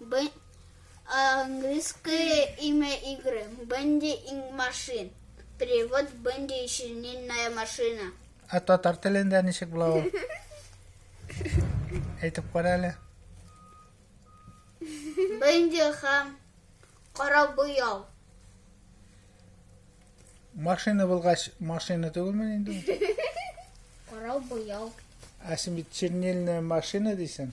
Б... Английское имя игры. Бенди инг машин. Перевод Бенди и шинильная машина. Ә татар телендә ничек була ул? Әйтеп кара әле. Бенди һәм кара буяу. Машина булгач, машина түгелме инде? Кара буяу. Ә син бит чернильная машина дисең.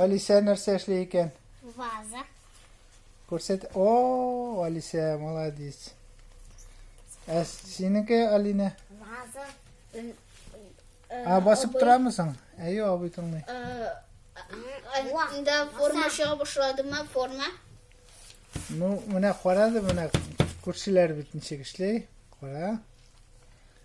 Алисә нәрсә эшли икән? Ваза. Күрсәт. О, Алисә, молодец. Ә синеке, Алина? Ваза. А басып торамы соң? Әйе, абый тыңлый. Анда форма чыга башладымы, форма? Ну, менә карады, менә күршеләр бит ничек эшли. Кара.